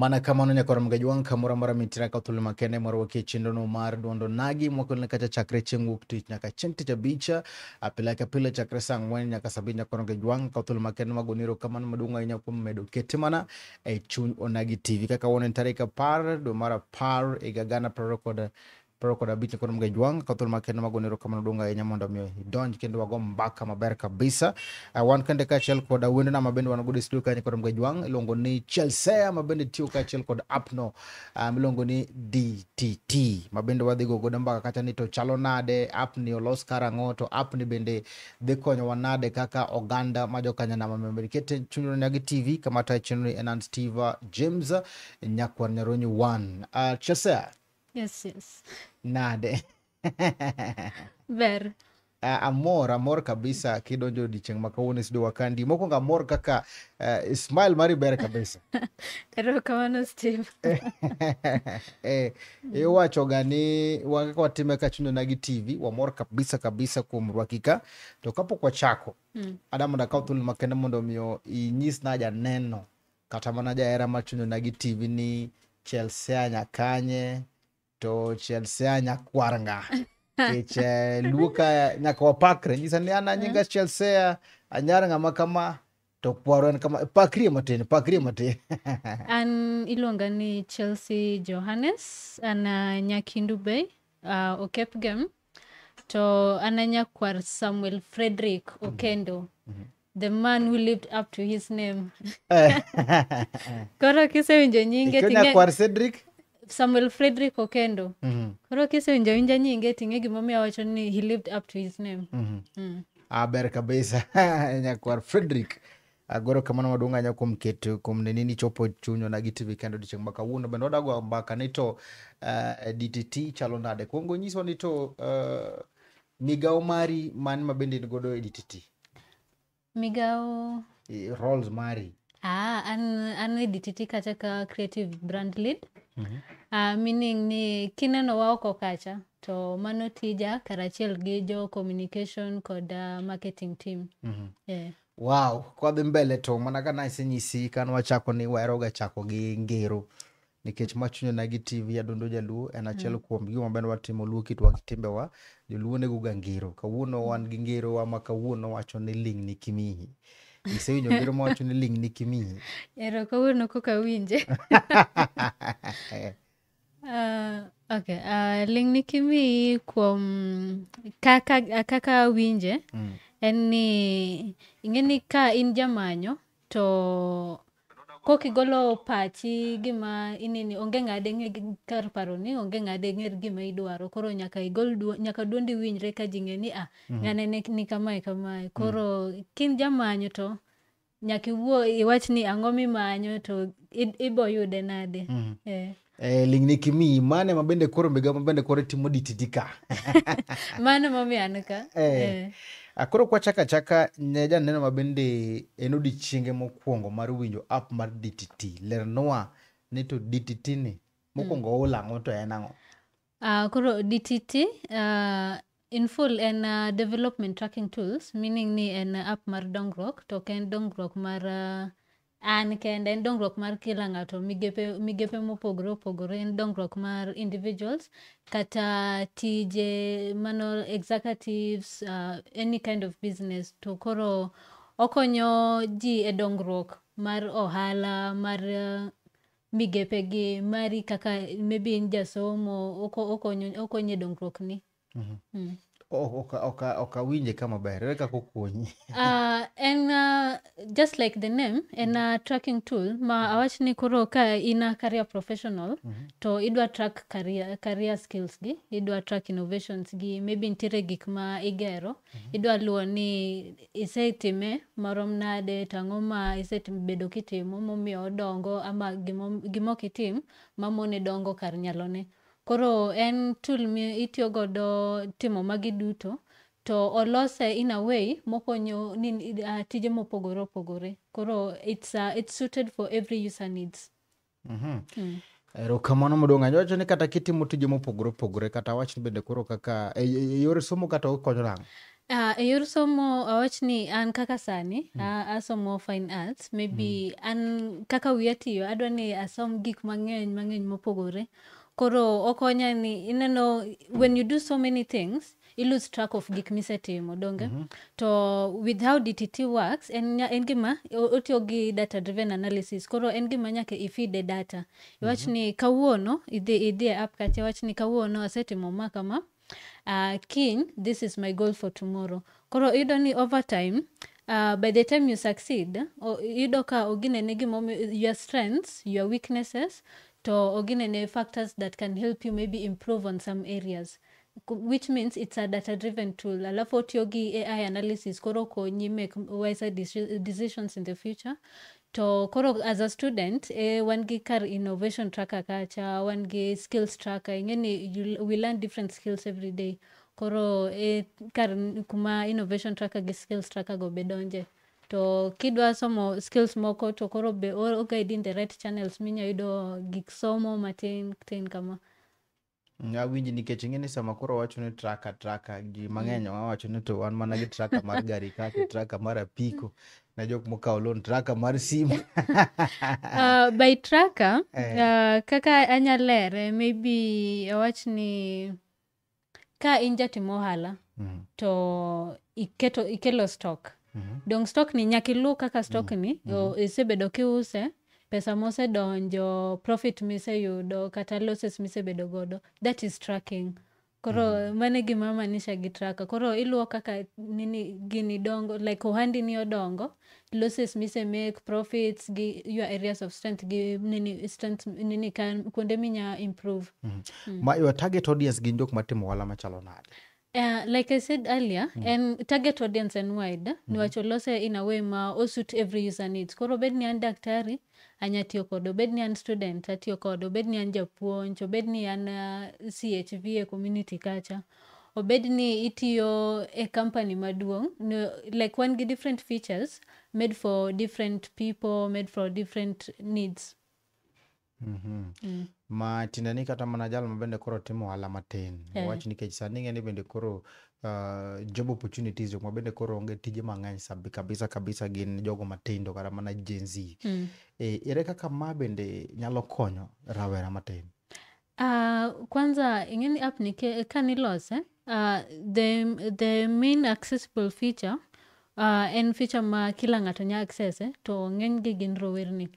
Mana kamano nyaka warom ga jwang' kamoro amora mitira ka thuolo makende mwarwaki e chenrono mar duondo nagi mwakelone kacha chakre chieng' wuok tich nyaka chieng' tich abich a pile ka pile chakre saa ang'wen nyaka saa abich nyaka warom ga jwang' ka thuolo makende magoni erokamano maduong' ahinya kuom medo kete mana e chuny onagi tv kaka wan en tarik apar dwe mar apar higa gana prariyo kod Pero kod abich kod mga jwang ka thul ma kendo magone ro kamano donga enya mondo mi idonj kendo wago mbaka maber kabisa. Uh, wan kende ka chel kod awendo na mabende wan go studio kanye kod mga jwang ilongo ni Chelsea mabende tiyo ka chel kod apno um, ilongo ni DTT mabende wadhi go godo mbaka kata ni to chalo nade app ni olos karango to app ni bende dhi konyo wanade kaka oganda ma jokanya na mamemberi kete chunyro nyagi TV kamata chenro ni Enans Tiva James nyakwar nyaronyi 1 uh, Chelsea Yes, yes. Nade. Ber. Uh, amor amor kabisa kidonjo odiechieng' ma kawuono isdo wakandi mokwongo amor kaka uh, smile mari ber kabisa erokamano steve eh, iwachoga ni wakaka watime ka chunyona gi tv wamor kabisa kabisa kuom rwakika to kapok wachako mm. ada mondo akaw thuolo makende mondo omiyo inyis na janeno kata mana jahera machunona gi tv ni chelsea nyakanye to chelsea nyakwarnga kech eh, luoka nyaka wapakre nyisa ni an anyinga chelsea anyar ng'ama kama to kwaro en kama pakrie matin pakrie matin an iluonga ni chelsea johannes an ah, nyakindu bay uh, okepgem to an anyakwar samuel frederick okendo the man who lived up to his name koro kisewinjo nyinge Ikona ting'e kwar Cedric. samuel frederick okendo Mhm, koro kisewinjo winja nyinge ting'e gimomiyo awacho ni he lived up to his name mhm. mm. Ah, ber kabisa nyakwar frederick agoro kamano maduong' ahinya kuom keto kuom neni ni chopo chunyona gi tv kendo odiechieng' ma kawuono bende wadago mbaka ni to eh, dtt chalo nade kwongo nyiswa ni to eh, migawo mari man ma bende in godo e dtt migawo eh, roles mari ah, an, an e dtt kacha ka creative brand lead mm -hmm. uh, meaning ni kineno wa oko kacha to mano tija karachiel gi jo communication kod uh, marketing team mm -hmm. yeah. wow kwadhi mbele to mana ka nasenyisi ka nwachako ni waheroga chako gi ngero nikech ma chunya na gi TV Adundo Jaluo en achiel mm. kuom gigo maber watimo luo kitwa gi timbewa joluo nego ga ngero kawuono mm. wan gi ngero wa ma kawuono wacho ni ling ni kimihi isewinjo ngero ma wacho ni ling ni kimihi ero kawuono kok awinje uh, okay uh, ling ni kimihi kuom kaka kaka awinje mm. en ni ing'e ni ka in jamanyo to kok igolo pachi gima inini onge ng'ade ng'e gi- kar paro ni onge ng'ade ng'er gima idwaro koro nyaka igol duo, nyaka duondi winjre ka ji ng'e ni ah ng'ane ni, ni kamae kamae koro kin jamanyo to nyaka iwuo iwach ni ang'o mimanyo to i- iboyude nade eh. Eh, ling ni kimi mane ma bende koro miga ma bende koro timo dititi ka mano ma mian ka eh. eh. Ah, koro kwa chaka chaka ne janeno ma bende en odiechienge mokwongo mar winjo app mar DTT lernwa ni to DTT ni mokwongo mm. olang'o to en ang'o Uh, koro DTT uh, in full en uh, development tracking tools meaning ni en uh, app mar dongruok to ok en dongruok mar uh, an kende en dongruok mar kila ng'ato migepe, migepe mopogore opogore en dongruok mar individuals kata tije mano executives uh, any kind of business to koro okonyo ji e dongruok mar ohala mar uh, migepe gi mari kaka maybe in jasomo okonye dongruok ni mhm. mm. ok awinje kama ber ere kaka okonyi ah, en ah, just like the name en ah, tracking tool ma mhm. awach ni koro ka in a career professional mm -hmm. to idwa track career, career skills gi idwa track innovations gi maybe nitiere gik ma igero mm -hmm. idwa luwo ni isetime marom nade to ang'o ma isebedo kitimo momiyo odongo ama gima ok itim mamone dongo kar nyalone. Koro en tool mi itiyo godo timo magi duto to olose in a way mokonyo ni uh, tije mopogore opogore. Koro it's, uh, it's suited for every user needs. Mhm. Mm. erokamano maduong' ahinya wacho ni kata kitimo tije mopogore opogore kata wach ni bende koro kaka e- e- e yor somo kata okonyo nang'o Ah, e yor somo awach ni an kaka sani a- asomo fine arts maybe an kaka wiya tiyo adwa ni asom gik mang'eny mang'eny mopogore koro okonya ni ineno when you do so many things i lose track of gik misetimo donge mm -hmm. to with how dtt works en, en gima otiyo gi data driven analysis koro en gima nyaka ifide data iwach mm -hmm. ni kawuono idhi idhi e app kacha iwach ni kawuono asetimo ma kama uh, kiny this is my goal for tomorrow koro iyudo ni over time uh, by the time you succeed iyudo ka oginene gimomiyo your strengths your weaknesses to oginene factors that can help you maybe improve on some areas which means it's a data driven tool alafu otiyo gi ai analysis koro okonyi make wiser deci- decisions in the future to koro as a student eh, wan gi kar innovation tracker kacha wan gi skills tracker ingeni you- we learn different skills every day koro eh, kar n- kuma innovation tracker gi skills tracker go be donje to kidwa somo skills moko to koro be o- oguide in the right channels minya yudo gik somo matin tin kama Awinji nikech ing'e ni sama koro wacho ni traka traka ji mang'eny wawacho ni to wan mana gi traka mar gari kaki traka mar apiko na jok mokawo loan traka mar simu uh, by traka eh. uh, kaka anyalere maybe awach ni ka in jatim ohala mm -hmm. to iketo ikelo stock mm -hmm. dong stock ni nyaka ilu kaka stock mm -hmm. ni mm -hmm. isebedo kiuse pesa mosedonjo profit miseyudo kata losses misebedo godo that is tracking koro mm. mane gima manisha gi traka koro iluwo kaka nini gini dongo like ohandi ni odongo losses mise make profits gi your areas of strength gi nini strength nini kan kuonde minya improve mm. Mm. ma your target audience gin jok matimo ohala machalo nade Uh, like I said earlier, mm. and target audience and wide, mm. niwacho lose in a way ma osuit every user needs. Koro bed ni an daktari, anya tiyo kode, obed ni an student, atiyo kode, obed ni an japuonj, obed ni an uh, CHV e community kacha, obed ni itiyo e company maduong' no, like wan gi different features made for different people, made for different needs. Mhm. Mm. ma tiende ni kata mana jal ma bende koro timo ohala matin Eh. wach nikech sani ing'e ni bende koro uh, job opportunities jok ma bende koro onge tije mang'eny sabi- kabisa kabisa gin jogo matindo kata mana Gen Z Mm. e, ere kaka ma bende nyalo konyo rawera matin Ah, kwanza ing'eni app ni ke- ka nilose Uh, the, the main accessible feature uh, en feature ma kila ng'ato nya access eh, to ng'enygi gin rowerni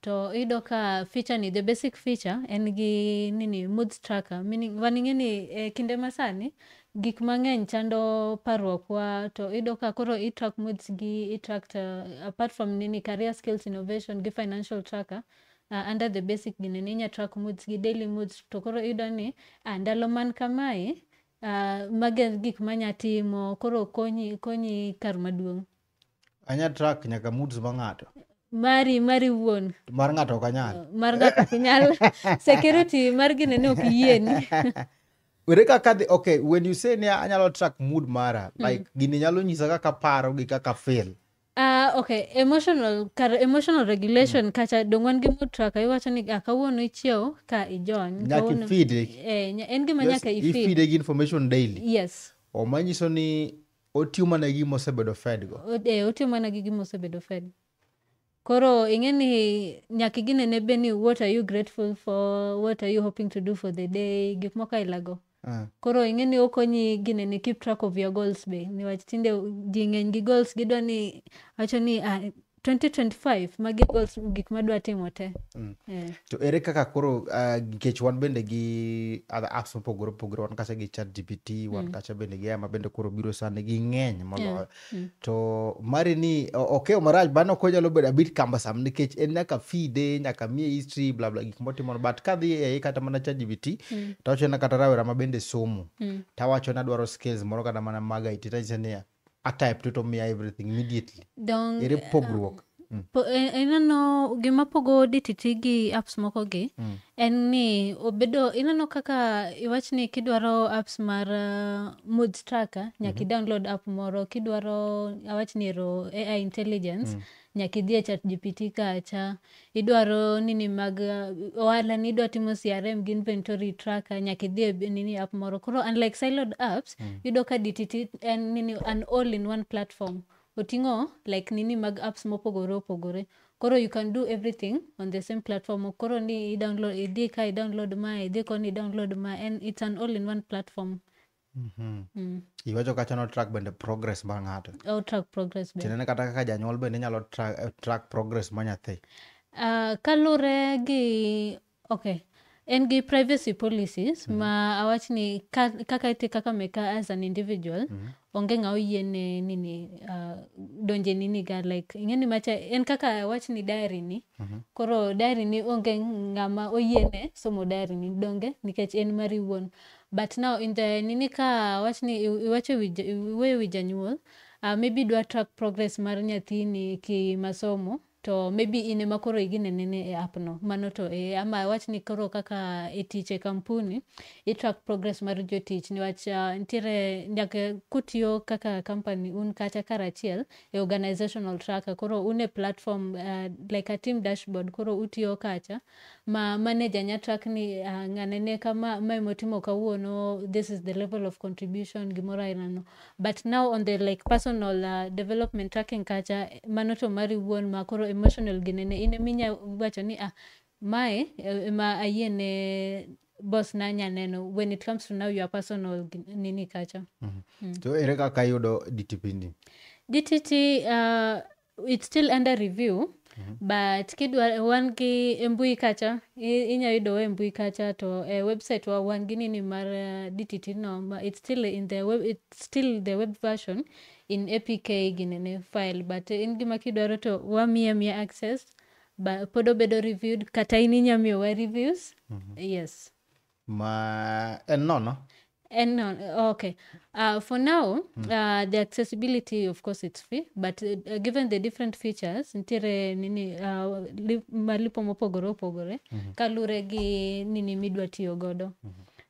to iyudo ka feature ni the basic feature en gi nini mood tracker meaning waning'e ni e kinde masani gik mang'eny chando parruokwa to iyudo ka koro itrack moods gi itrack uh, apart from nini career skills innovation gi financial tracker uh, under the basic gini ni inya track moods gi daily moods to koro iyudo ni uh, ndalo man kamae uh, mago e gik manya timo koro konyi konyi kar maduong' anya track nyaka moods ma ng'ato mari mari wuon To mar ng'ato ok anyal mar ng'ato ok nyal security mar gine ni ok yieni were kaka dhi okay when you say ni anyalo track mood mara like gini nyalo nyisa kaka paro gi kaka feel Ah, okay emotional kar emotional regulation kacha dong wan gi mood tracker iwacho ni ah, kawuono ichiew ka ijony Nyaka kawuono- ifeede. eh, nya- en gima nyaka ifeed ifide gi information daily yes oma nyiso ni otiyo mana gi mosebedo fed go O- eh, otiyo mana gi gima osebedo fed koro ing'e ni nyaka ginene be ni what are you grateful for what are you hoping to do for the day gik moko ailago Mm. Koro ing'e ni okonyi gine ni keep track of your goals be niwach tinde ji ng'eny gi goals gidwa ni wacho ni ah, 2025 magi goals gik madwa timo te mm. yeah. to ere kaka koro uh, nikech uh, wan bende gi other apps mopogore opogore wan kacha gi chat gpt wan mm. kacha bende gi ama bende koro biro sani gi ng'eny moloyo yeah. Mm. to mari ni o- okeyo marach bana ok onyalo bedo abit cumbersome nikech en nyaka fide nyaka mie history bla bla gik motimo but kadhi ei kata mana ChatGPT Mm. to awachona kata rawera ma bende somo Mm. tawacho ni adwaro skills moro kata mana mag IT tanyisa niya atype to to miya everything immediately Dong, ere pogruok Mm. Po- e- ineno gima pogo dtt gi apps moko gi Mm. en ni obedo ineno kaka iwach ni kidwaro apps mar uh, mood tracker nyaka idownload app moro kidwaro awach ni ero ai intelligence nyaka idhi e chat gpt kacha idwaro nini mag uh, ohala ni idwa timo crm gi inventory tracker nyaka idhi e b- nini app moro koro unlike siloed apps yudo ka dtt en nini an all in one platform Oting'o like nini mag apps mopogore opogore. Koro you can do everything on the same platform. Ok koro ni i download, idhi ka i download ma, idhi koni i download ma. En, it's an all in one platform. Iwacho kacha no track bende progress mar ng'ato. Au track progress be. Tiende ni kata kaka janyuol bende inyalo tra- eh, track progress ma nyathi. Ah, kalure gi Okay. En gi privacy policies mm -hmm. ma awach ni ka, kaka iti kaka meka as an individual mm -hmm. onge ng'a oyiene nini uh, donje nini ga like ing'eni macha en kaka awach ni diary ni mm -hmm. koro diary ni onge ng'ama oyiene somo diary ni donge nikech en mari wuon but now in the nini ka awach ni iwacho iwuoyo wi janyuol uh, maybe idwa track progress mar nyathini ki masomo to maybe in ema koro iginenene e app no mano to e ama awach ni koro kaka e tich e kampuni itrack progress mar jotich niwach uh, ntiere nyaka kutiyo kaka company un kacha karachiel e organizational tracker koro un e platform uh, like a team dashboard koro utiyo kacha ma manager nya track ni uh, ng'ane ne kama ma emotimo kawuono this is the level of contribution gimoro ainano but now on the like personal uh, development tracking kacha mano to mari wuon ma koro emotional ginene in eminya wacho ni ah mae eh, ema ayie ne boss na nya neno when it comes to now your personal gin- nini kacha to ere kaka iyudo dtp ni DTT uh, it's still under review but kidwa wan gi e mbui kacha i- inya yudowa e mbui kacha to e website wa wan gi nini mar uh, dtt no ma- it's still in the web, it's still the web version in apk ginene file but in gima kidwaro to wamiya miya access ba pod obedo reviewed kata in inya miyowa reviews yes ma en nono And no, okay. Uh, for now, uh, the accessibility, of course, it's free, but uh, uh, given the different features, nitiere nini uh, li, malipo mopogore opogore kalure gi nini midwa tiyo godo.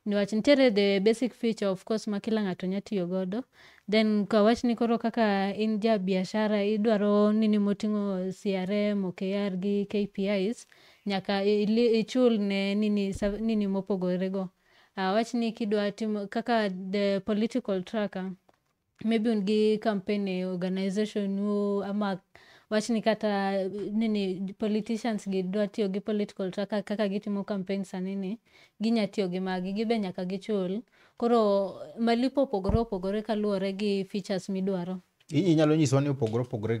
Niwach nitiere the basic feature, of course, ma kila ng'ato nya tiyo godo. Then kawach ni koro kaka in ja biashara idwaro nini moting'o CRM, OKR gi KPIs, Nyaka ichul ne nini nini mopogore go. Awach ni kidwa timo kaka the political tracker maybe un gi campaign e organization nu ama wach ni kata nini politicians gi dwa tiyo gi political tracker kaka gitimo campaign sani ni ginya tiyo gi magi gibe nyaka gichul koro malipo opogore opogore kaluwore gi features midwaro inyalo nyiswa ni opogore opogore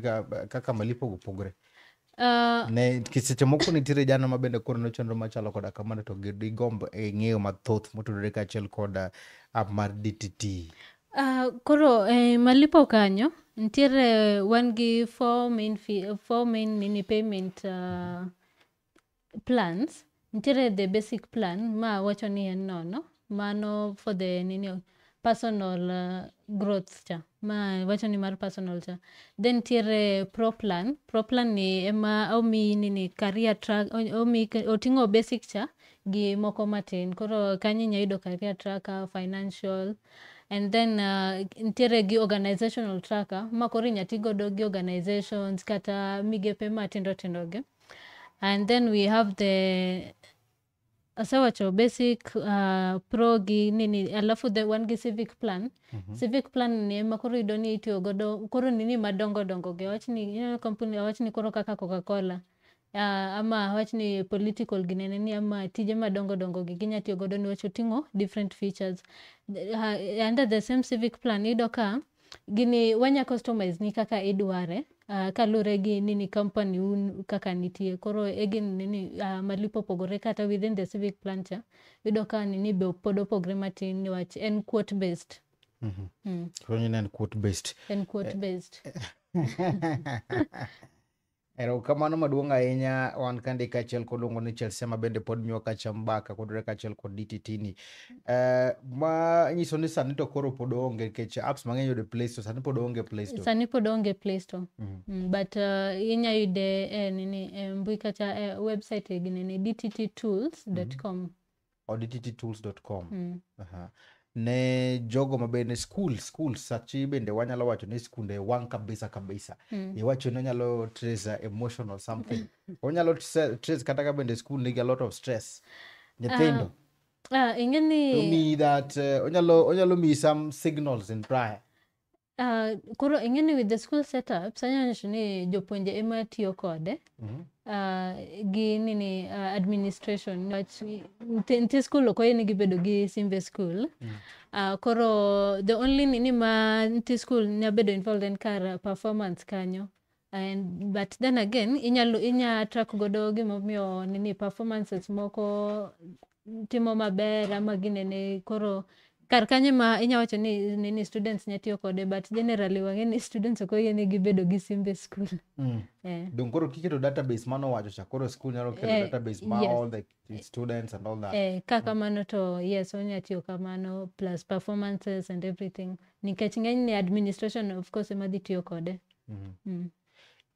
kaka malipo opogore Ah, ne kiseche moko nitiere jano ma bende koro nochenro machalo koda kamano to gi- digombo e ng'eyo mathoth motudore kaachiel koda app mar dtt ah, koro eh, malipo kanyo nitiere wan gi four main, fee, four main nini payment ah, plans nitiere the basic plan ma wacho ni en nono mano for the nini personal uh, growth cha ma wacho ni mar personal cha then nitiere pro plan pro plan ni ema omi nini career track o- omi oting'o basic cha gi moko matin koro kanyo inya yudo career tracker financial and then uh, nitiere gi organizational tracker ma koro inya ti godo gi organizations kata migepe matindo tindo gi and then we have the asewacho basic uh, pro gi nini alafu the wan gi civic plan mm -hmm. civic plan ni ema koro yudo ni itiyo godo koro nini madongo dongo gi awach ni ineno kampuni awach ni koro kaka coca cola uh, ama awach ni political ginene ni ama tije madongo dongo gi ginya tiyo godo niwach oting'o different features the, uh, under the same civic plan iyudo ka gini wanya customize ni kaka idware uh, kaluwore gi nini company un kaka nitie koro egin nini uh, malipo opogore kata within the civic plan cha yudo ka nini be pod opogre matin niwach en quote based Mhm. mm. Koro nyine en quote based. en quote based Erokamano maduong' ahinya wan kandi kaachiel koluongo ni Chelsea ma bende pod nyuo kacha mbaka kodure kaachiel kod DTT ni. Eh, ma nyiso ni sani to koro pod onge nikech apps mang'eny yudo e Play Store sani pod onge e Play Store. sani pod onge play store Mhm. mm, but uh, inya yude e nini e mbui kata e website e ginene dtttools.com odtitools.com Mm. Aha. ne jogo mabende school school sachi bende wanyalo wacho ni skunde wang kabisa kabisa Mm. iwacho ni onyalo trace a emotional something onyalo tse- trace kata ka bende school nigi a lot of stress nyithindo Ah, ing'e to ni mean that uh, onyalo onyalo miyi some signals in prior Ah, koro ing'e ni with the school setups anyanyiso ni jopuonje ema tiyo kode Mhm. ah, gi nini ah, administration niwach nti nti skul ok oyienigi bedo gi simbe skul Ah, koro the only nini ma nti skul nya bedo involved en kar performance kanyo And, but then again inyalo inya track godo gimomiyo nini performances moko timo maber ama ginene koro kar kanyo ema inya wacho ni nini students nya tiyo kode but generally wang'e ni students ok oyienegi bedo gi simbe e skul Mm. eh. Donge koro kiketo database mano wacho cha koro school nyalo keto Eh, database ma yes. all the the students and all that eh, ka kamano to yes onya tiyo kamano plus performances and everything nikech ng'eny ni administration of course ema dhi tiyo kode Mhm. mm.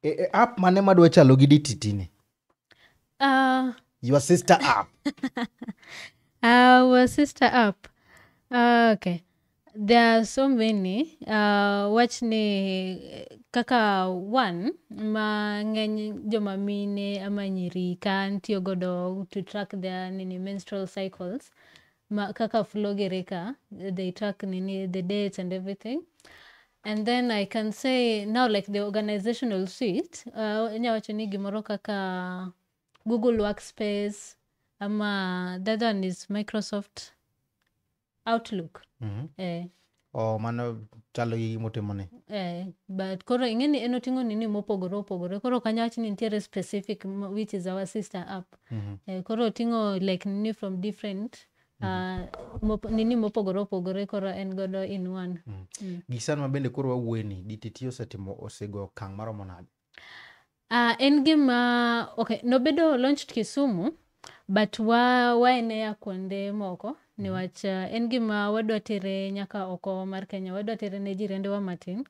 e, e, app mane madwa chalo gi dtt ni Ah, your sister app our sister up Ah, okay There are so many. Uh, wach ni eh, kaka one ma ng'eny joma mine ama nyiri kan tiyo godo to track their nini menstrual cycles ma kaka flogere ka they track nini the dates and everything and then i can say now like the organizational suite uh, nya wacho ni gimoro kaka google workspace ama the other one is microsoft outlook Mhm. eh, Oh, mano chalo gi gimotimo ni. eh, but koro ing'e ni en oting'o nini mopogore opogore koro kanya wach ni nitiere specific m- which is our sister app Mhm. eh, koro oting'o like nini from different uh, mop, nini mopogore opogore koro en godo in one Gi sani ma bende koro wawuoye ni DTT osetimo osego okang' maromo nade? Ah, en gima okay, nobedo launched Kisumu but wa waenea kuonde moko niwach ah, en gima wadwa tere nyaka oko mar Kenya, wadwa tere ne jirendewa matin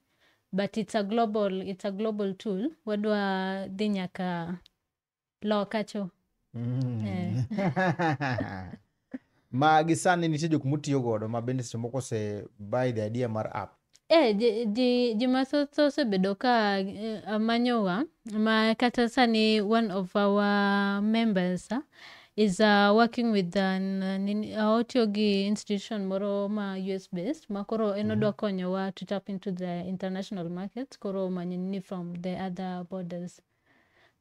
but it's a global, it's a global tool. Wadwa dhi nyaka Loka cho. Mm. Eh. ma gi sani nitie jok mutiyo godo ma bende seche moko ose buy the idea mar app Eh, ji, ji, ji mathoth osebedo ka eh, manyowa ma kata sani one of our members ah, is uh, working with an, uh, nini- uh, otiyo gi institution moro ma US based ma koro en odwa konyowa to tap into the international market koro manyini from the other borders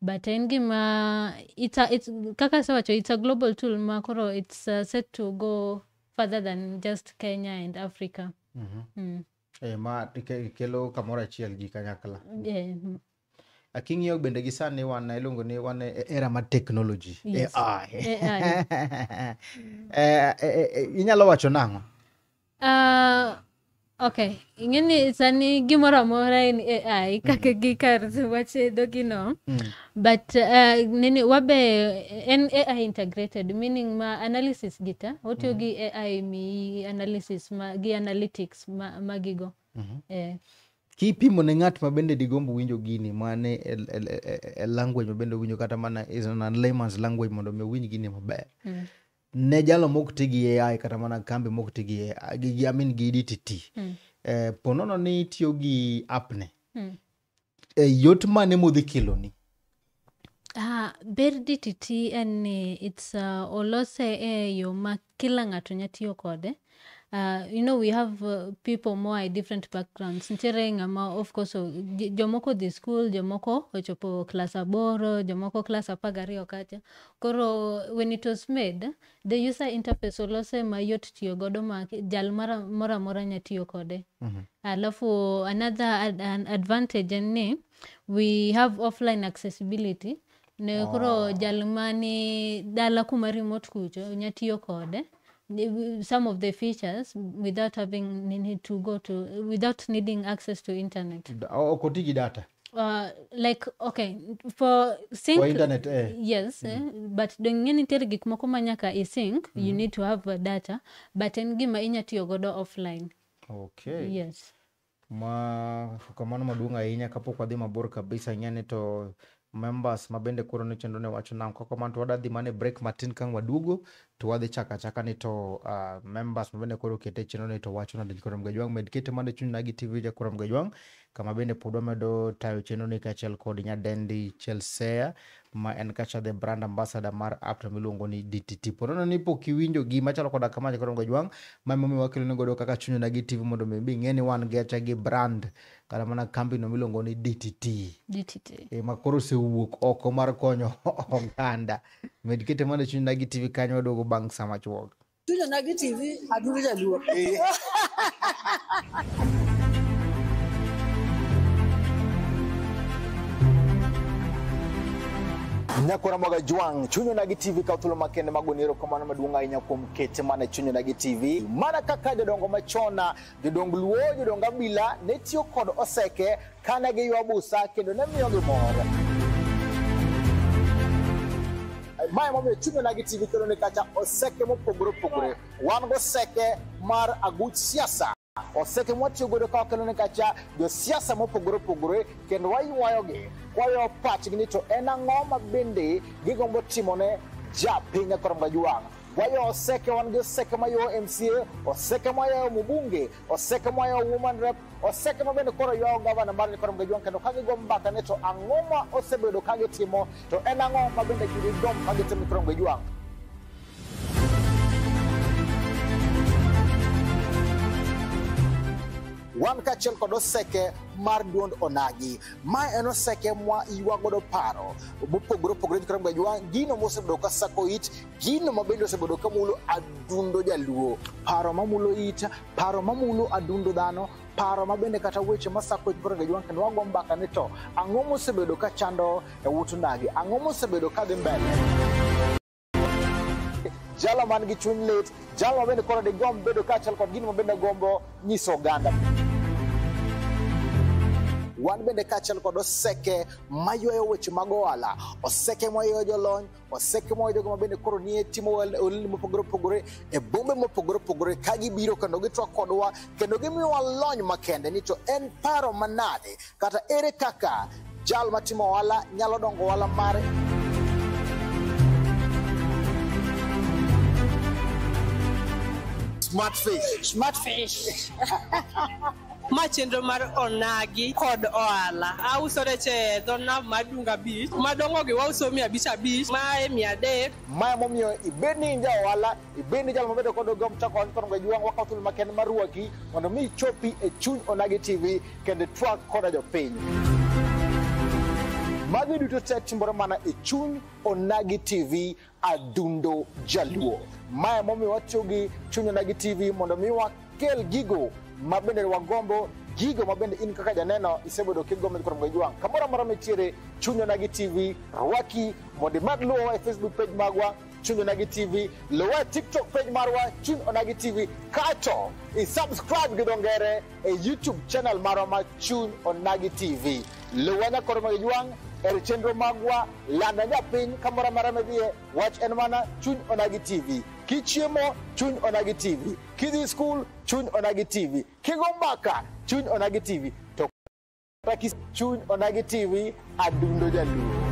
but en gima it's a, it's, kaka asewacho it's a global tool ma koro it's uh, set to go further than just kenya and africa mm. Eh, ma ke- kelo kamoro achiel ji kanyakla yeah. mm. aking'iyo bende gi sani wan iluongo ni wan e e era mar technology Yes. AI. AI. Eh, eh, eh, inyalo wacho nang'o Uh, okay ing'eni sani gimoro amora en ai kaka gi kar wach dhogino but uh, nini wabe en ai integrated meaning ma analysis gita otiyo gi ai mi analysis ma, gi analytics ma, magigo eh, kipimo ne ng'at ma bende digombo winjo gini mane e, e, e, e language ma bende owinjo kata mana is an layman's language mondo mi owinj gini maber ne jalo mok ti gi AI kata mana kambi mok ti gi AI, gi, gi, I mean, gi DTT Mm. eh, ponono ni itiyo gi appne Mm. eh, yot mane modhi keloni Ah, ber DTT en ni it's uh, olose e yo ma kila ng'ato nya tiyo kode Uh, you know we have uh, people more i different backgrounds nitiere ng'ama of course o- j- jomoko dhi school jomoko ochopo class aboro jomoko class apar gariyo kacha koro when it was made the user interface olose mayot tiyo godo ma ki- jal mara- moro amora nya tiyo kode alafu another ad, an advantage en ni we have offline accessibility Ne koro jal mani dala kuma remote kucho nya tiyo kode Ni- some of the features without having ni- need to go to without needing access to internet. Da- o- ok oti gi data Uh, like okay for sync For internet, eh. yes eh, but donge nitiere gik moko ma nyaka isync you need to have uh, data but en gima inya tiyo godo offline okay yes Ma kamano maduong' ahinya kapok wadhi mabor kabisa ing'eni to members ma bende koro ne chenro ne wacho nang' kok kamano to wadadhi mana e break matin kang' waduogo to wadhi chako achaka ni to uh, members ma bende koro okete chenro ni to wacho nadil koro mgejwang' med kete mana e chuny na gi tv ja koro mgejwang' kama bende pod wamedo tayo chenro ni kaachiel kod nyadendi chelsea ma en kacha the brand ambassador mar app to miluongo ni DTT. Ponono ni pok iwinjo gima chalo koda kama nyaka dongo jwang' ma emomiyo wakelo ni godo kaka chunyo na gi TV mondo mi ing'e ni wan gi acha gi brand kata mana kambi no miluongo ni DTT. DTT. E, ma koro osewuok oko mar konyo oganda. Med kete mana chunyo na gi TV kanyo waduogo bang' sama chuok. Too Janagi TV, Adu Vijalu. nyakora moga jwang' chunyo nagi tv kaw thuolo makende mago ni erokamano maduong' ahinya kuom kete mana chunyo nagi tv mana kaka jodongo machona jodong luo jodong abila ne tiyo kod oseke Ka ne giywa busa kendo ne miyogi mor. Mae momiyo chunyona gi TV kelo ni kacha oseke mopogore opogore. Wan goseke mar aguch siasa. Oseke mwatiyo godo ka wakelo ni kacha josiasa mopogore opogore kendo waywayogi kwayo pachgi ni to en ang'o ma bende gigombo timone ja piny e koromga jwang'. Wayo oseke wan gi oseke mayo MCA, oseke mayo mbunge, oseke moa e Women Rep, oseke ma bende koro ywayo gavana mar Nikorom Gajwang' kendo ka gigo mbaka ni to ang'o ma osebedo ka gitimo to en ang'o ma bende gidom ka gitimo Nikorom Gajwang'. wan kaachiel kod oseke mar duond onagi ma en oseke mwa ywa godo paro mopogore opogore Nikorom Gajwang' gino mosebedo ka sako it gino ma bende osebedo ka mulo adundo jaluo paro ma mulo ita paro ma mulo adundo dhano paro ma bende kata weche ma sako koro ga jwank kendo wago mbaka ni to ang'o mosebedo ka chando e wut ndagi ang'o mosebedo ka dhi mbele jalo man gi chuny lit jalo ma bende koro digomb bedo kaachiel kod gino ma bende gombo nyiso oganda wan bende kaachiel kod oseke maywayo weche mag ohala oseke maywayo jolony waseke mwa jogo ma bende koro nie timo olni mopogore opogore e bombe mopogore opogore ka gibiro kendo gitwak kodwa kendo gimiyowa lony makende ni to en paro manade kata ere kaka jal matimo ohala nyalo dongo ohala mare smart fish Smart fish. ma chenro mar onagi kod ohala auso rech e dho nam mar dunga beach madongogi wauso mia abich abich mae mia adek maya momiyo ibed ni in ja ohala ibed ni jal mabedo kod ogom chako ohala kono gajwang' wakawo thuolo makende mar rwaki mondo mi ichopi e chuny onagi tv kendo twak koda jopiny magi duto te timore mana e chuny onagi tv adundo jaluo mae momiyo watiyo gi chunyonagi tv mondo mi wakel gigo ma bende wagombo gigo ma bende in kaka janeno isebedo kigombo kod mweji wang' kamoro amora mitiere chunyonagi tv rwaki mondo imak luwowa e facebook page magwa chunyonagi tv luwa e tiktok page marwa chunyonagi tv kato isubscribe gi dongere e youtube channel marwa ma chuny onagi tv luwa nyakoro mweji wang' e chenro magwa Lando nya piny kamoro amora midhiye, wach en mana chuny onagi TV. Kichiemo, chuny onagi TV. Kidhi skul, chuny onagi TV. Kigo mbaka, chuny onagi TV. To kata kis chuny onagi TV, adundo jaluo.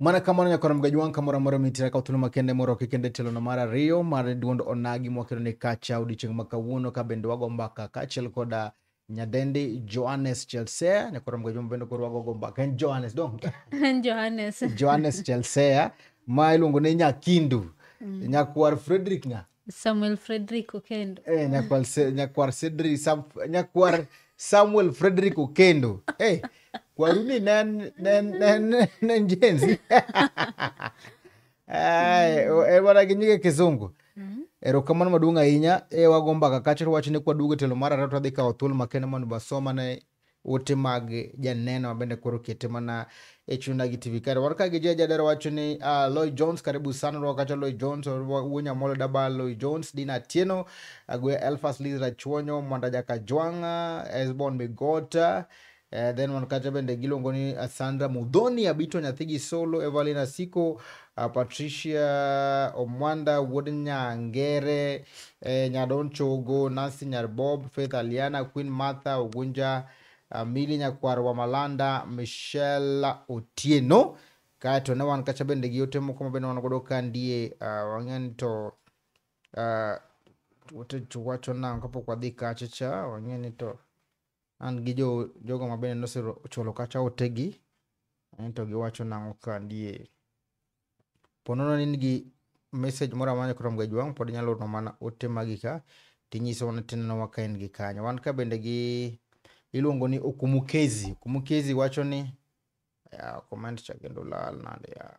Mana kamano nyaka warom gajwang' kamoro amora mitira ka thuolo makende moroki kendo e tielo no mar ariyo mar duond onagi mwakelo ni kacha odiochieng' ma kawuono ka bende wago mbaka kaachiel koda nyadendi Johannes Chelsea nyaka warom gajwang' bende koro wagogo mbaka en Johannes dong En Johannes. Johannes Chelsea ma iluongo ni Nyakindu nyakwar Frederick ng'a samuel frederick okendo Eh, nyakwar Se- nyakwar Cedric Sam, nyakwar samuel frederick okendo hey, kwaruni nen nen nen nen jenzi Ai, o- e bana gi nyige kizungu erokamano maduong' ahinya e wagomba kakachre wach ni kwaduogo e telo mar ariyo twadhi kawo thuolo makende mondo basomane ote mag janeno mabende koro kete mana e chuna gi tv kare wan ka gi jeja dero wacho ni uh, ah, loy jones karibu sana rwa kacha loy jones wuonya molo daba loy jones dina tieno agwe elfas lizra chuonyo mwanda jaka jwanga esbon migota Uh, then wan kacha bende giluongo ni eh, sandra mudhoni abito nyathi gi solo evalina siko uh, Patricia Omwanda, Wuod Nyangere, eh, Nyadon Chogo, Nancy Nyarbob, Faith Aliana, Queen Martha Ogunja, uh, Mili Nyakwar wa Malanda, Michelle Otieno. Kaeto ne wan kacha bende gi ote moko ma bende wan godo ka ndie uh, wang'eni to uh, ote wacho nang' kapok wadhi kacha cha wang'eni to an gi jo jogo ma bende nosechulo kacha otegi ento giwacho nang'o ka ndie po nono ni in gi message moro amora krom ga jwang' pod inyalo orona mana ote magi ka tinyiso mana tinenowa ka in gi kanyo wan ka bende gi iluongo ni okumukezi okumukezi wacho ni ya comment cha kendo lal nade ya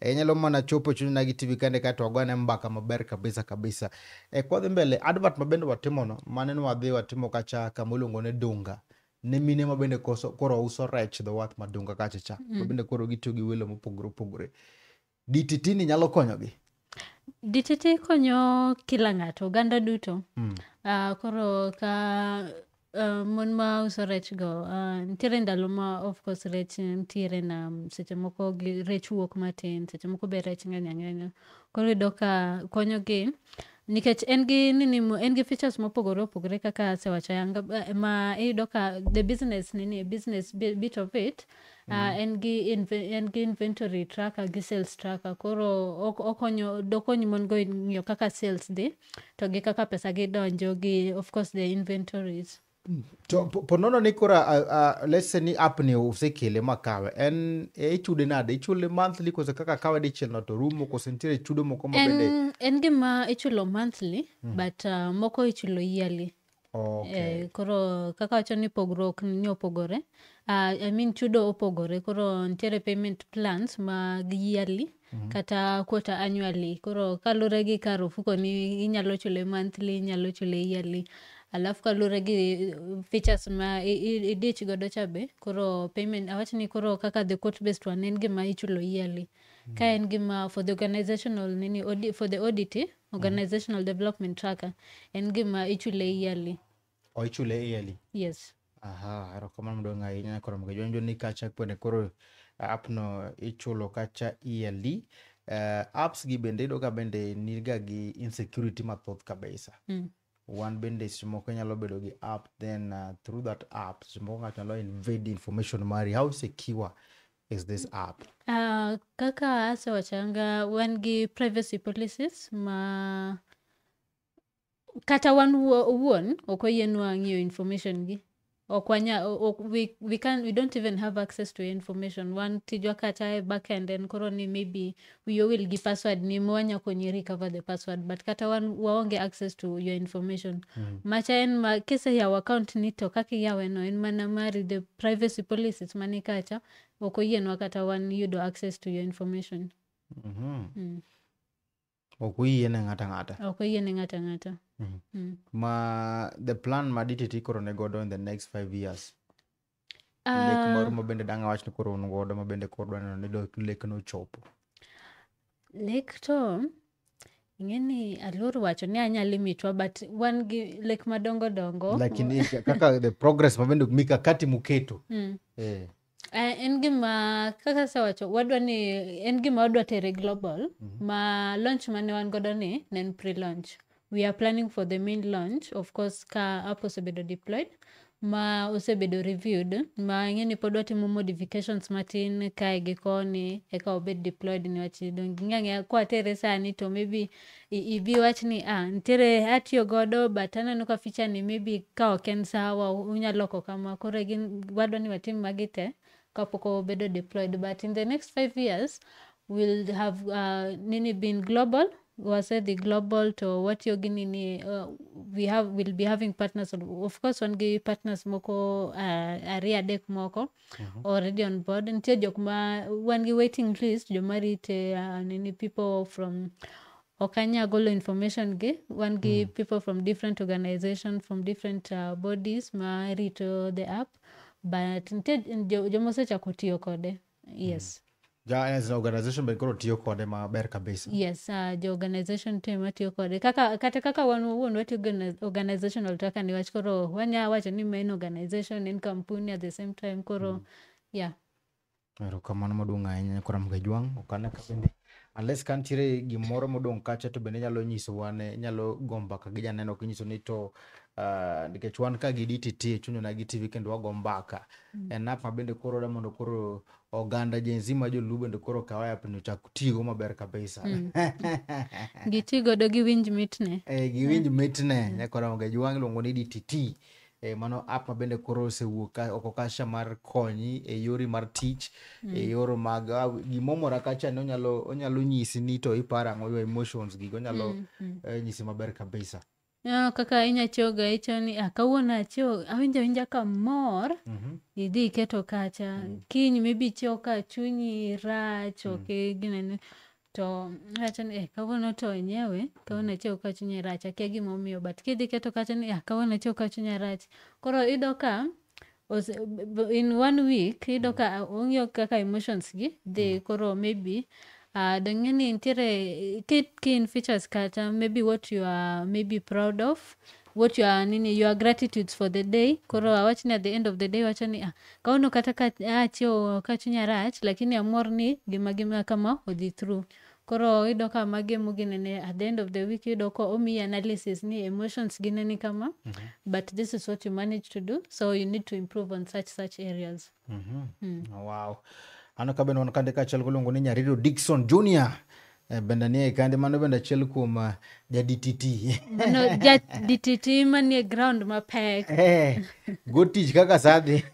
E, nyalo mana chopo chunyna gi TV kende kae to wagone mbaka maber kabisa kabisa. E, kwadhi mbele, advert ma bende watimono, mane nwadhi watimo kacha kama iluongo ni Dunga. Ne mine ma bende koso, koro uso rech dho wath ma Dunga kacha cha. Mm. Ma bende koro gitiyo gi welo mopogore opogore. DTT ni nyalo konyogi. DTT konyo kila ng'ato, oganda duto. Mm. Uh, koro ka Uh, mon ma uso rech go uh, nitiere ndalo ma of course rech nitiere na mm, seche moko gi rech wuok matin seche moko be rech ng'eny ang'enya koro yudo ka konyogi nikech en gi nini mo- en gi features mopogore opogore kaka asewacho yanga eh, ma iyudo ka the business nini business bi- bit of it Uh, en gi inve- en gi inventory tracker gi sales tracker koro ok- okonyo dokony mon go ng'iyo kaka sales dhi to gi kaka pesa gi donjo gi of course the inventories to po- ponono ni kora uh, uh, let's say ni app ni usekele makawe en e ichude nade ichule monthly kose kaka kawe dichiel no to rumo kose nitiere chudo moko mabende en, en gima ichulo monthly but uh, moko ichulo yearly Okay. Eh, koro kaka wacho ni pogruok ni opogore uh, I mean chudo opogore koro nitiere payment plans mag yearly mm -hmm. kata quarter annually koro kalure gi kar ofuko ni inyalo chule monthly inyalo chule yearly alafu kalure gi uh, features ma idich godo cha be koro payment awach ni koro kaka the court based one en gima ichulo yearly mm -hmm. ka en gima for the organizational nini for the audit organizational development tracker en gima ichule yearly o ichule yearly yes aha erokamano maduong' ahinya koro mondo jonjo ni kacha kwene koro app no ichulo kacha yearly uh, apps gi bende iyudo ka bende niga gi insecurity mathoth kabisa mm. wan bende seche moko inyalo bedo gi app then uh, through that app seche moko ng'ato nyalo invade information mari how secure is this app uh, kaka asewachanga wan gi privacy policies ma kata wan owuon ok oyienwa ng'iyo information gi ok wanya ok, we, we, can, we don't even have access to information wan tijwa kata e backend en koro ni maybe we will gi password ni mwanya konyi recover the password but kata wan waonge access to your information mm. macha en ma kise yawo account ni to kaka iyaweno en mana mari the privacy policies mani kacha ok oyienwa kata wan yudo access to your information mm -hmm. mm. ok oyie ne ng'ata ng'ata ok oyie ne ng'ata ng'ata mm. Mm. ma the plan ma dtt koro ne godo in the next five years uh, ah. lek moro ma bende dang' awach ni koro un godo ma bende koro dwaneno ni lek nochopo lek to ing'eni aluor wacho ni anyalo mitwa but wan gi lek madongo dongo lakini kaka the progress ma bende mikakati muketo mm. eh. Eh, en gima kaka asewacho wadwa ni en gima wadwa tere global mhm. ma launch mane wan godo ni ne en pre launch we are planning for the main launch of course ka app osebedo deployed ma osebedo reviewed ma ing'e ni pod watimo modifications matin kae gi koni eka obed deployed niwach dong' ging'e ang'eya kwatere sani to maybe i- idhi wach ni ah, nitiere atiyo godo but aneno ka ficha ni maybe ka ok en sawa u- unyalo loko kama koro gin wadwa ni watim magi te kapok obedo deployed but in the next five years will have uh, nini been global wase the global to watiyo gi nini uh, we have will be having partners of course wan gi partners moko uh, ariyo adek moko Mhm. already on board nitie jok ma wan gi waiting list joma rite uh, nini people from okanya golo information gi wan gi people from different organization from different uh, bodies ma rito the app but nitie jo- joma osechako tiyo kode yes Ja as an organization be koro tiyo kode maber kabisa. yes uh, jo organization team matiyo kode kaka kata kaka wan wawuon watiyo gi organi- organizational taka niwach koro wanya wacho ni main organization en kampuni at the same time koro yeah Erokamano maduong' ahinya Nyakoram Gajwang'. Okana ka bende unless ka nitiere gimoro modong' kacha to bende inyalo nyisowa ne inyalo go mbaka gi janeno kinyiso ni to ah, nikech wan ka gi DTT chunyona gi TV kendo wago mbaka. En app ma bende koro da mondo koro oganda Gen Z ma joluo bende koro kaw app ni ochak tigo maber kabisa mm. giti godo gi winj mitne eh gi winj mitne mm. nyaka ram ga juwang luongo ni DTT eh, mano app ma bende koro osewuok oko kasha mar konyi e yori mar tich e mm. e yor mag ah, gimomora kacha ni onyalo onyalo nyisi ni to iparo ang'o your emotions gigo onyalo mm, mm. Eh, nyisi maber kabisa Ah, kaka inya choga icho ni ah, kawuono acho awinjo awinja kamor Mhm. idhi iketo kacha kiny maybe icho ka chunyi rach ok ginene to acho ni eh, kawuono to enyewe kawuono acho ka chunyi rach akia gimomiyo but kidhi iketo kacha ni ah, kawuono acho ka chunya rach koro iyudo ka Ose, b- b- in one week iyudo ka ong'iyo kaka emotions gi dhi koro maybe uh, dong'e ni nitiere ki, ki in features kata maybe what you are maybe proud of what you are nini your gratitudes for the day koro awach ni at the end of the day wacho ni ah, kawuono kata ka achiewo ka chunya rach lakini amor ni gima gima kama odhi through Koro iyudo ka magi emo ginene at the end of the week iyudo ka omiyi analysis ni emotions gi neni kama but this is what you manage to do so you need to improve on such such areas. wow ano ka bende wan kande kaachiel goluongo ni nyariro dikson junior Eh, bende nie kande mano bende achiel kuom ah, jadtt No, ja DTT manie ground mapek. Eh, go tich kaka sadhi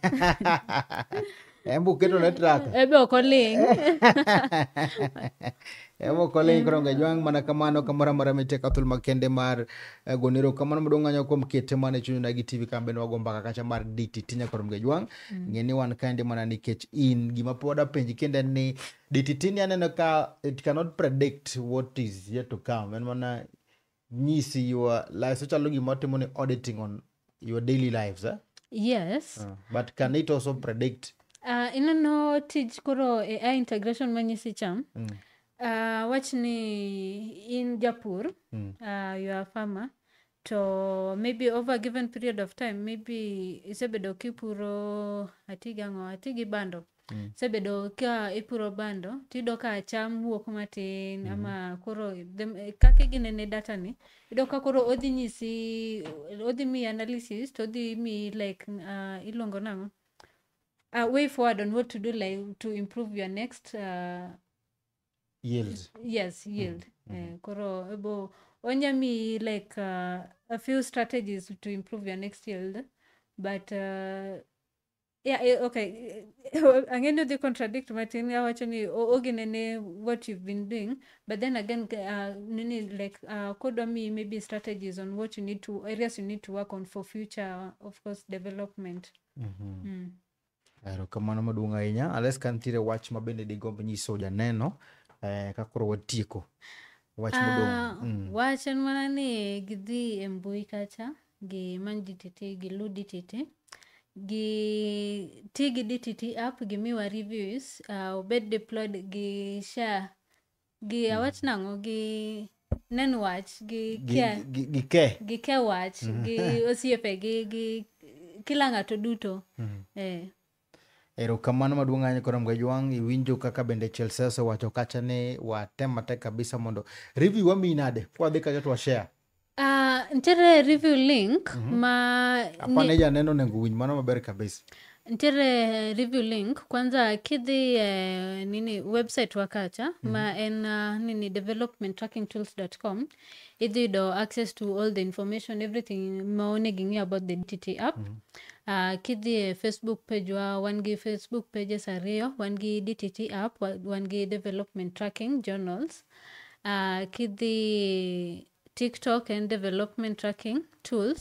Embe uketo ne traka. Ebe ok oling'. Embe ok oling' koro onge jwang' mana kamano kamoro amora mitie ka thuolo makende mar eh, gone erokamano maduong' anyo kuom kete mana e chunyna gi TV kambe ne wago mbaka kacha mar DTT nyakoro onge jwang'. Ng'e ni wan kaendi mana nikech in. Gima pod apenji kendo en ni DTT ni aneno ka it cannot predict what is yet to come. En mana nyisi your life so chalo gima watimo ni auditing on your daily lives eh? yes uh. but can it also predict uh, ineno tij koro ai integration manyisi cham mm. uh, wach ni in japur mm. uh, you are farmer to maybe over a given period of time maybe isebedo kipuro atigi ang'o atigi bando Mm. sebedo ka ipuro bando tiyudo ka cham wuok matin mm. ama koro kaka iginene data ni iyudo ka koro odhi nyisi odhi miyi analysis to odhi miyi like uh, iluongo nang'o a uh, way forward on what to do like to improve your next uh, yield yes yield mm. mm. Eh, koro ebo onya miyi like uh, a few strategies to improve your next yield but uh, Yeah, eh, okay. Ang'e ni odhi contradict matin awacho ni o- ogine ne what you've been doing but then again uh, nini like uh, kodwa mi maybe strategies on what you need to areas you need to work on for future of course development. Mm. erokamano maduong' ahinya ales ka nitiere wach ma bende digomb nyiso janeno eh, ka koro watieko wach Ah, modong' mm. wach en mana ni gidhi e mbui kacha gi many DTT gi lu DTT gi ti gi DTT app gi miwa reviews uh, obed deployed gi share gi mm. awach nang'o gi nen wach gi ke gi, gi, ke. gi ke wach mm. gi osiepe gi gi kila ng'ato duto mm. eh. Erokamano maduong' ahinya Kora Mgajwang', iwinjo kaka bende Chelsea osewacho kacha ni watem matek kabisa mondo review wamiyi nade kwadhi kacha to washare. Ah, nitiere review link ma ni- Apane janeno onego winj mano maber kabisa. nitiere review link kwanza kidhi eh, nini website wa kacha ma en ah, nini developmenttrakingtools.com idhi yudo access to all the information everything ma onego ing'e about the dtt app Ah, kidhi e facebook page wa wan gi facebook pages ariyo wan gi dtt app wa- wan gi development tracking journals Ah, kidhi tiktok and development tracking tools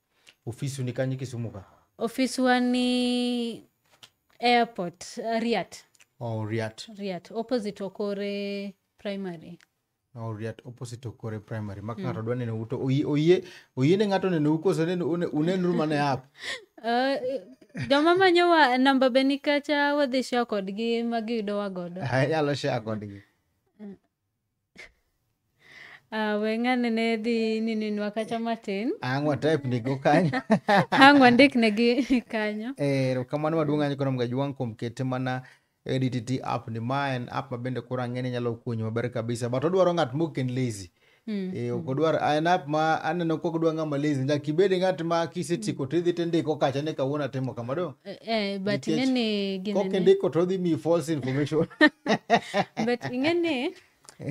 ofisi ni kanye kisumu ka ofiswa ni airport uh, riat oh, riat riat opposite okore primary oh, riat opposite okore primary ma ng'ato dwa neno uto oyie oyie oyie ne ng'ato neno ukoso neno une- unenru mana e app uh, joma manyowa namba be nikacha wadhi share kodgi ma giyudowa godo anyalo share kodgi Ah, we ng'ane ne dhi nininwa kacha matin Ang' watype nigo kanyo. ang' wandik negi kanyo Eh, erokamano maduong' ahinya koro mgajwang' kuom kete mana e DTT app ni ma en app ma bende koro ang'e ni nyalo konyi maber kabisa but odwaro ng'at mok en lazy Mm. Eh, ok odwar en app ma aneno kok dwa ng'ama lazy nyaka ibed ng'at ma kisetieko to idhi to indiko kacha ni kawuono atimo kama do Eh, eh, but Nikech ing'eni gini Kok ne- indiko to odhi miyi false information. but ing'eni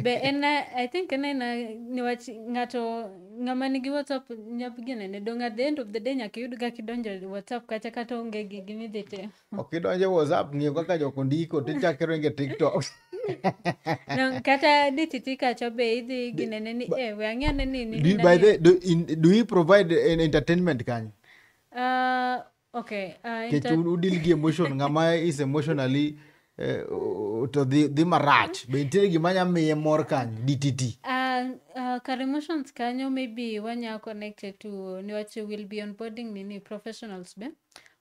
be en i think en aena niwach ng'ato ng'ama nigi whatsapp nyap ginene dong at the end of the day nyaka iyud kaka idonjo e whatsapp kacha kata onge gi gimidhi timo Ok idonje WhatsApp ng'iyo kaka jok ondiko to ichako iringe TikTok. No, kata dititi kacha be idhi ginene ni e we ang'e ane ni ni- Do you, ni by nani- the do, in, do you provide an entertainment kanyo? Ah, okay uh, kech inter- udil gi emotion ng'ama is emotionally eh, o- o- to dhi dhi marach be nitiere gima nya miye mor kanyo dtt Uh, uh, kar emotions kanyo maybe wanya connected to niwach will be onboarding nini professionals be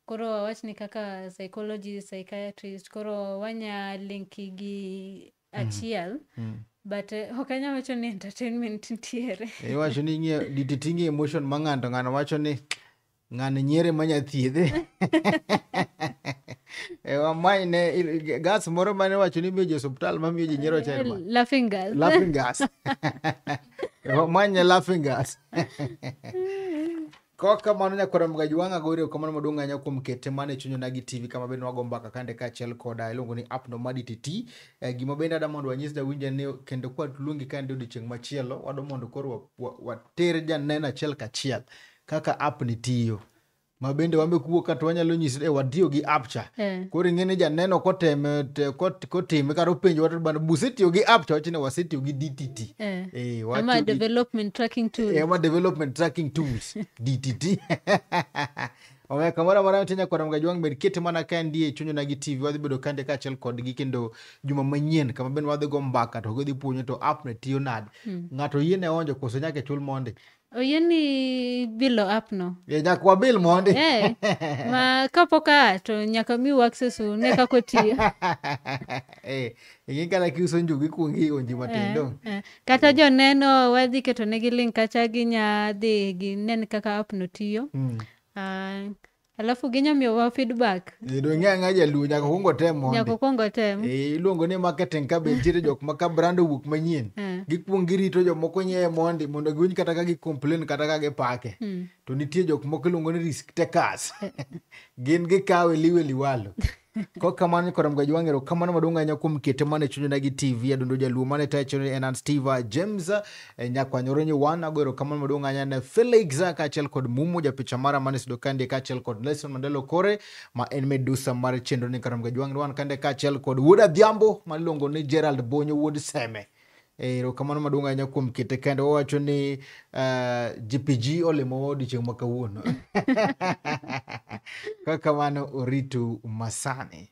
koro wawach ni kaka psychology psychiatrist koro wanya linki gi achiel but eh, ok anyal wacho ni entertainment nitiere iwacho ni ing'e dititing'e emotion ma ng'ato ng'ano wacho ni ng'ano nyiere ma nyathiedhe e wamany ne il- gas moro mane wacho ni miyo ji osuptal ma miyo ji nyiero chelma laughing girl laughing gas E wamany ne laughing gas Kok kamano nyakwar Mgaji wang' ago erokamano maduong' ahinya kuom kete mane chunyo nagi TV kama bende wago mbaka kande kaachiel koda iluongo ni app no madi titi. Eh, gima bende ada mondo wanyis jawinja ni kendo kwa luongi kande odiochieng' machielo wado mondo koro wa- wa- water janeno achiel kachiel kaka app ni tiyo. Ma bende wambe kuwuok ka to wanyalo nyisi e watiyo gi app cha. Eh. Koro ing'e ni janeno koteme te- kot kotime kata openjo watu bana busetiyo gi app to wacho ni wasetiyo gi dtt Eh. Eh, watiyo ama gi- development tracking tool Eh, ama development tracking tools dtt omiyo kamoro amora nitie nyakwara mga jwang' med kete mana ka ndie chunyona gi tv wadhi bedo kande kaachiel kodgi kendo juma manyien kama bende wadhi go mbaka to gidhi puonyo to app ne tiyo nade ng'ato yie ne onjo koso nyaka chul monde oyieni bilo app no Ye, nyaka wabil mondi Eh, ma kapok aa to nyaka miu access une kaka otiyo Eh, ing'e kata kiuso njugu ikuongo ionji matin dong Eh, kata joneno wadhi ketonegi link kacha ginya dhi ginen kaka app no tiyo Mm. Ah, alafu ginya miyowa feedback Eh, dong' ng'e ang'a jaluo nyaka kuongo tem mondi nyaka okuong otem Eh, iluongo ni marketing ka be nitiere jok ma ka brand owuok manyien Eh. gikwong girito jomoko nyiewe mondi mondo giwinj kata ka gicomplain kata ka gipake Mm. to nitie jok moko iluongo ni risk takers gin gikawe liwe liwalo ko kamano nyikora mga jwang erokamano maduong' ahinya kuom kete mane chunyona gi tv adundo jaluo mane tayo chenro en an steve james eh, nyakwanyoro nyiwan ago erokamano maduong' ahinya ne felix kaachiel kod mumo japicha mara mane sudo kande kaachiel kod nelson mandelo kore ma en medusa mar chenro ni kara mga jwang wan kande kaachiel kod wuod adhiambo ma iluongo ni gerald bonyo wuod seme Eh, erokamano maduong' ahinya kuom kete kende wawacho ni uh, eh, jpg olimowa odiochieng' ma kawuono kaka kamano oritu masani